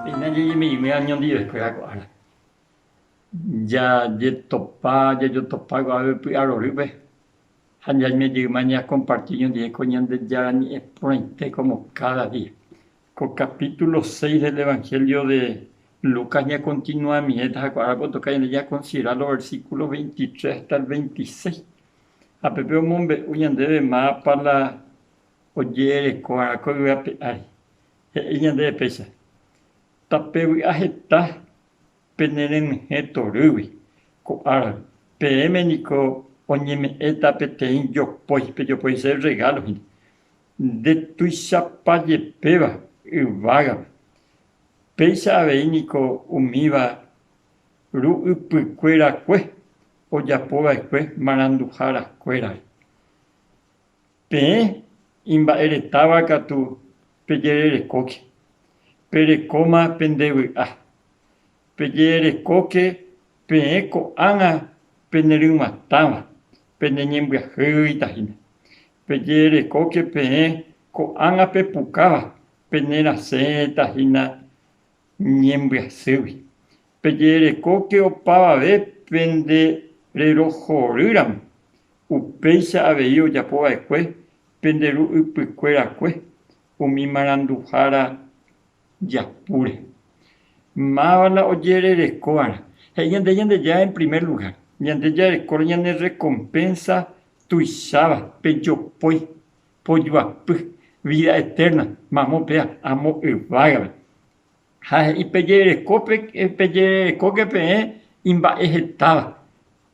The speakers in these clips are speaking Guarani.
Péina jajeme'ẽme añondive'ekuéra ko ára, jajetopa, jajotopa guave py'arorýpe ha jaime jeýma ñakomparti oñondive ko Ñandejára Ñe'ẽ porãite kómo káda día. Ko kapítulo seis del Evangelio de Lucas ñakontinuamivéta ha ko árape otoka ñande ñakonsidera lo versíkulo veintitres hasta el veintiséis. Ha peve omombe'u ñandéve mápa la oje'ereko va'erã ko yvy ape ári. He'i ñandéve péicha, Tapevy'a heta pene renyhẽ torýgui ko áragui, peẽme niko oñeme'ẽta peteĩ jopói, pejopoise rregálo hína. Nde tuichapa jepéva yvágape, péicha avei niko umíva Ru'ypykuerakue ojapova'ekue maranduharakuérare. Peẽ imba'eretáva katu pejererekóke, perekóma pende vy'a. Pejererekóke peẽ ko'ág̃a peneryg̃uatãva, peneñembyahýita hína. Pejererekóke peẽ ko'ág̃a pepukáva, penerasẽta hína Ñembyasýgui, pejerekóke opavave pende rerohorýramo, upéicha avei ojapo va'ekue pende ru ypykuerakue umi maranduhára japúre. Máva la ojerereko va'erã. He'i ñande Ñandejára en primer lugar, ñande jarekóre ñane rrekompensa tuicháva pe jopói pojuapy vida eterna mamo péa amo yvágare. Ha he'i pejererekóke peẽ imba'e hetáva,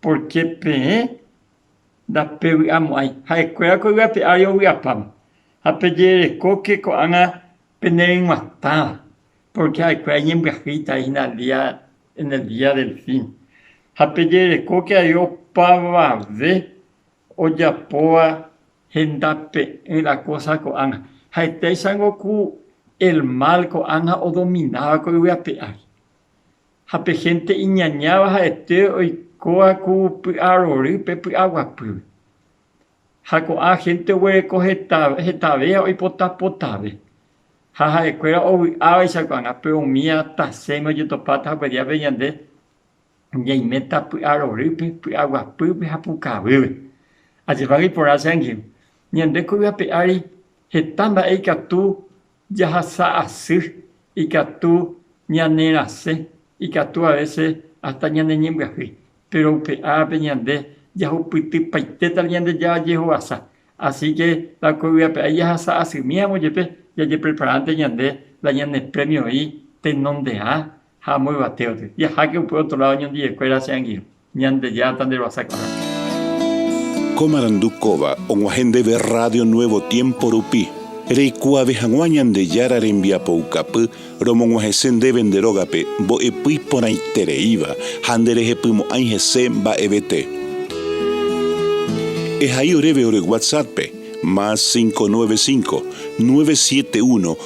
pórke peẽ ndapevy'amo'ãi ha'ekuéra ko yvate ári ovy'apáma. Ha pejererekóke ko'ág̃a peneryg̃uatãva, pórke ha'ekuéra iñembyahýita hína en el día del fin. Ha pejererekóke avei opavave ojapóva Hendape'ỹ la kósa ko'ág̃a. Ha'etéichango ku el mal ko'ág̃a odomináva ko yvy ape ári. Ha pe hénte iñañáva ha'ete oikóva ku py'arorýpe py'aguapýpe. Ha ko'ã hénte oguereko hetavéva oipota potave. Ha ha'ekuéra ovy'ávaicha ko'ág̃a, péro umíva tasẽme ojetopáta hape díape ñande ñaiméta py'arorýpe, py'aguapýpe ha pukavýpe. Ajepáge iporã che angirũ. Ñande kuri ape ári heta mba'e ikatu jahasa asy, ikatu ñanerasẽ, ikatu avese hasta ñaneñembyahýi. Péro upe árape ñande jahupytypaitéta Ñandejára jehovasa. Asi ke la kuri ape ári jahasa asymíramo jepe, jajepreparánte ñande la ñane prémio oĩ tenonderã Ha amo yvatéote, jaháke upe otro lado ñandivekuéra che angirũ, Ñandejáta nde ruasa korrápe. Ko marandu kóva og̃uahẽ ndéve Radio Nuevo Tiempo rupi, reikuaave hag̃ua Ñandejára rembiapoukapy romog̃uahẽse ndéve nde rógape mbo'epy iporãitereíva ha nde rehepymo'ãi hese mba'evete. Ehai oréve ore WhatsApp-pe, más 595, 971,